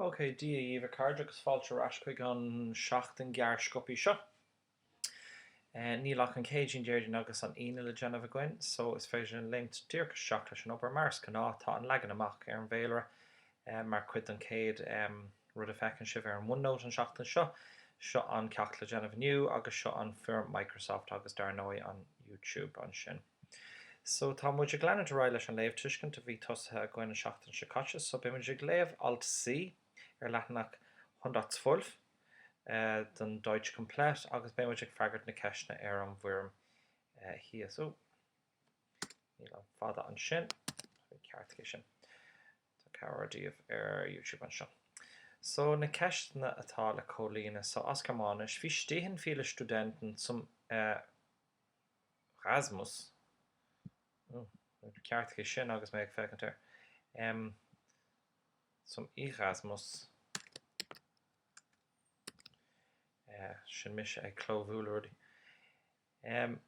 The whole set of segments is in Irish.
OK, Dia dhíbh, a chairde, agus fáilte ar ais chuig an seachtain gearr sciopaí seo. Níl ach an Céadaoin, Déardaoin agus an Aoine le déanamh againn, só is féidir linn léimt díreach isteach leis an obair. Mar is gnáth, tá an leagan amach ar an bhféilire mar chuid den chéad rud a feiceann sibh ar an OneNote an seachtain seo. Seo an ceacht le déanamh inniu, agus seo an foirm Microsoft, agus dar ndóigh, an YouTube ansin. So, tá muid ag leanúint ar aghaidh leis an léamhthuiscint a bhí tosaithe againn an seachtain seo caite. So, beidh muid ag léamh alt C ar leathanach 112 den Deutsch Komplett agus beidh muid ag freagairt na ceisteanna ar an bhfoirm thíos. Ó, níl an fada ansin, ceartaigí sin. Tá cabhair daoibh ar YouTube anseo. So, na ceisteanna atá le comhlíonadh. So, as Gearmáinis, Wie stehen viele Studenten zum eh, Rasmus, Ó, ceartaigí sin agus mé ag féachaint air. Em. Zum Erasmus. Eh, sin mise ag clóbhualadh rudaí. Em.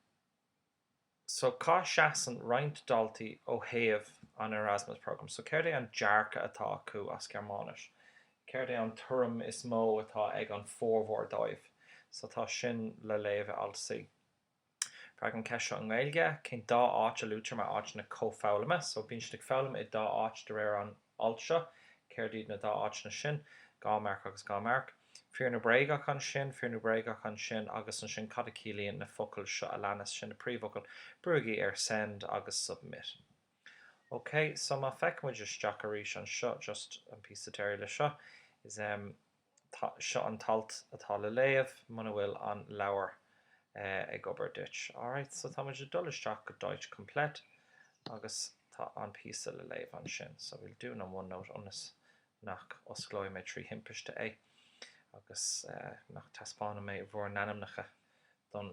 So, cá seasann roinnt daltaí ó thaobh an Erasmus Programme? So, céard é an dearcadh atá acu as Gearmáinis? Céard é an tuairim is mó atá ag an formhór dóibh? So, tá sin le léamh i alt C. Freagair an cheist seo i nGaeilge, cén dá áit a luaitear mar áiteanna comhfhoghlama? So, bíonn siad ag foghlaim i dá áit de réir an ailt seo. Céard iad na dá áiteanna sin? Dhá mharc agus dhá mharc. Fíor nó bréagach ansin? Fíor nó bréagach ansin? Agus ansin, cad a chiallaíonn na focail seo a leanas? Sin na príomhfhocail. Brúigí ar Send agus Submit. Ok, so má feiceann muid isteach arís anseo, just an píosa deiridh leis seo, is eh. Tá, seo an t-alt atá le léamh muna bhfuil an leabhar ag obair duit. Alright, so tá muid ag dul isteach go Deutsch Komplett agus tá an píosa le léamh ansin. So bhuel, dún an OneNote ionas nach osclóidh mé trí thimpiste é agus nach dtaispeánfaidh mé bhur n-ainmneacha don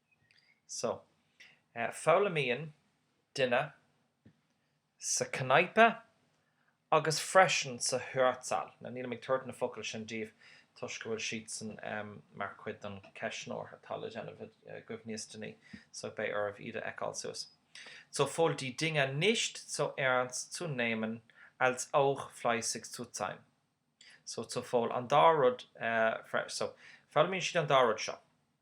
So. Foghlaimíonn duine sa Kneipe agus freisin sa Hörsaal. Now nílim ag tabhairt na focail sin daoibh toisc go bhfuil siadsan mar chuid den cheistneoir atá le déanamh agaibh níos déanaí, so beidh oraibh iad a fheiceáil suas. Sowohl die Dinge nicht so ernst zu nehmen als auch fleißig zu sein. So sowohl, an dá rud. So, foghlaimíonn siad an dá rud seo.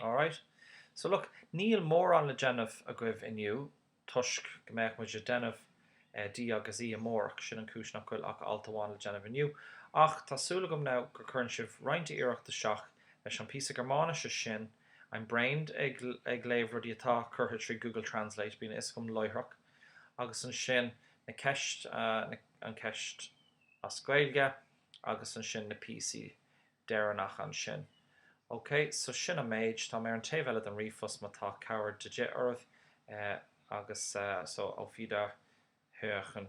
Alright. So look, níl mórán le déanamh agaibh inniu toisc go mbeadh muid ag déanamh D agus E amárach, sin an cúis nach bhfuil ach alt amháin le déanamh inniu. Ach tá súil agam now gur cuireann sibh roinnt iarracht isteach leis an píosa Gearmáinise sin, I'm drained ag ag léamh rudaí atá curtha trí Google Translate, bíonn a fhios agam láithreach, agus ansin na ceist na an ceist as Gaeilge agus ansin na píosaí deireanach ansin. OK, so sin an méid, táim ar an taobh eile den ríomhphost má tá cabhair de dhith oraibh, agus so, auf Wiederhören!